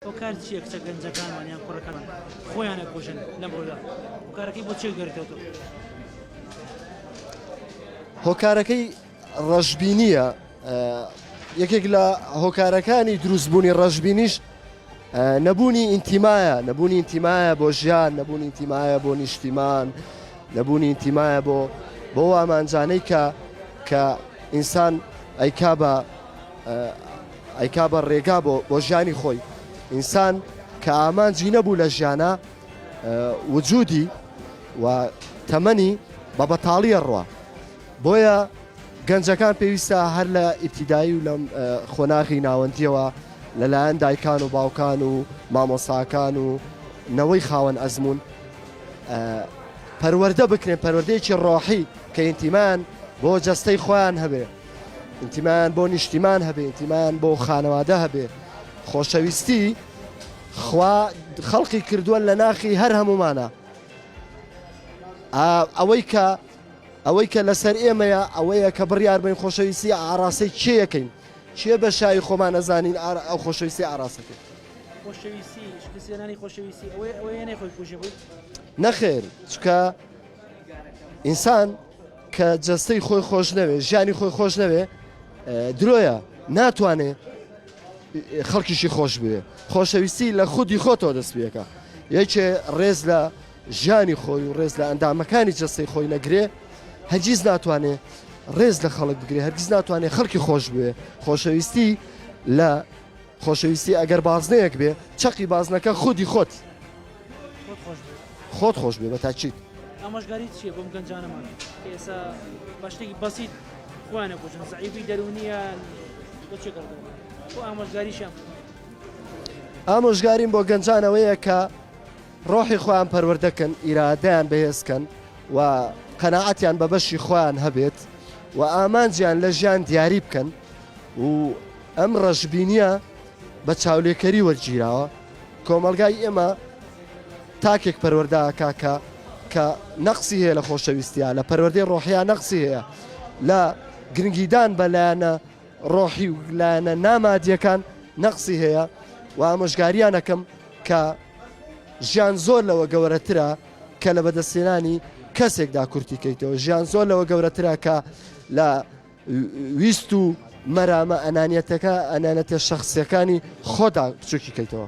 هۆکار چیە کچە گەنجەکانمان یان کوڕەکانمان خۆیان ئەکوژن لەم ڕۆدا هۆکارەکەی بۆ چێک دەرکەوتو هۆکارەکەی ڕەشببینیە یەکێک لە هۆکارەکانی دروستبوونی ڕەشببینیش نەبوونی ئینتیمایە نەبوونی ئینتیمایە بۆ ژیان نەبوونی ئینتیمایە بۆ نیشتیمان نەبوونی ئینتیمایە بۆ بۆ ئامانجانەی کە کە ئینسان ئەیکا بە ئەیکا بە ڕێگا بۆ بۆ ژیانی خۆی. ئینسان کە ئامانجی نەبوو لە ژیانا وجودی و تەمەنی بە بەتاڵیە ڕوا بۆیە گەنجەکان پێویستە هەر لە ئیبتیدایی و لەم خۆناغی ناوەندیەوە لەلایەن دایکان و باوکان و مامۆساکان و نەوەی خاوەن ئەزمون پەروەەردە بکرێن پەروەردەیەکی ڕۆحی کە ئینتیمان بۆ جەستەی خۆیان هەبێ ئینتیمایان بۆ نیشتیمان هەبێ ئینتیمایان بۆ خانەوادە هەبێ خۆشەویستی خوا خەڵقی کردووە لە ناخی هەر هەمومانە ئەوەی کە ئەوەی کە لەسەر ئێمەیە ئەوەیە کە بڕیار بین خۆشەویستی ئاراسی چیەکەین چیە بە شایی خۆمان نەزانین ئەو خۆشەویستی ئاراستەکە نەخێر چکە ئینسان کە جەستەی خۆی خۆش نەوێ ژیانی خۆی خۆش نەوێ درۆیە ناتوانێ خەڵکیشی خۆش بوێ خۆشەویستی لە خودی خۆتەوە دەستپێکە یەکێ ڕێز لە ژیانی خۆی و ڕێز لە ئەندامەکانی جەستەی خۆی نەگرێ هەرگیز ناتوانێ ڕێز لە خەڵک بگرێ هەرگیز ناتوانێ خەڵکی خۆش بوێ خۆشەویستی لە خۆشەویستی ئەگەر بازنەیەک بێ چەقی بازنەکە خودی خۆت خۆت خۆش بێ. خۆت خۆش بێ بە تاکید. ئامۆژگاری چیە بۆم گەنجانەمان ئێسا بە شتێکی بەسیت خۆیان ئەکوژن زەعیفی دەروونییان بۆ چێ گەڕدەوە بۆ ئامۆژگاریشیان بکەن. ئامۆژگاریم بۆ گەنجان ئەوەیە کە ڕۆحی خۆیان پەروەردە کەن ئیرادەیان بەهێز کەن و قەناعەتیان بە بەشی خۆیان هەبێت و ئامانجیان لە ژیان دیاری بکەن و ئەم ڕەشبینییە بە چاولێکەری وەرگیراوە کۆمەڵگای ئێمە تاکێک پەروەردە ئەکا کە کە نەقسی هەیە لە خۆشەویستیا لە پەروەردەی ڕۆحیا نەقسی هەیە لە گرنگیدان بە لایەنە ڕۆحی و لایەنە نامادیەکان نەقسی هەیە و ئامۆژگاریانەکەم کە ژیان زۆر لەوە گەورەترە کە لە بەدەستێنانی کەسێکدا کورتی کەیتەوە ژیان زۆر لەوە گەورەترە کە لە ویست و مەرامە ئەنانیەتەکە ئەنانەتە شەخسیەکانی خۆدا بچوکی کەیتەوە.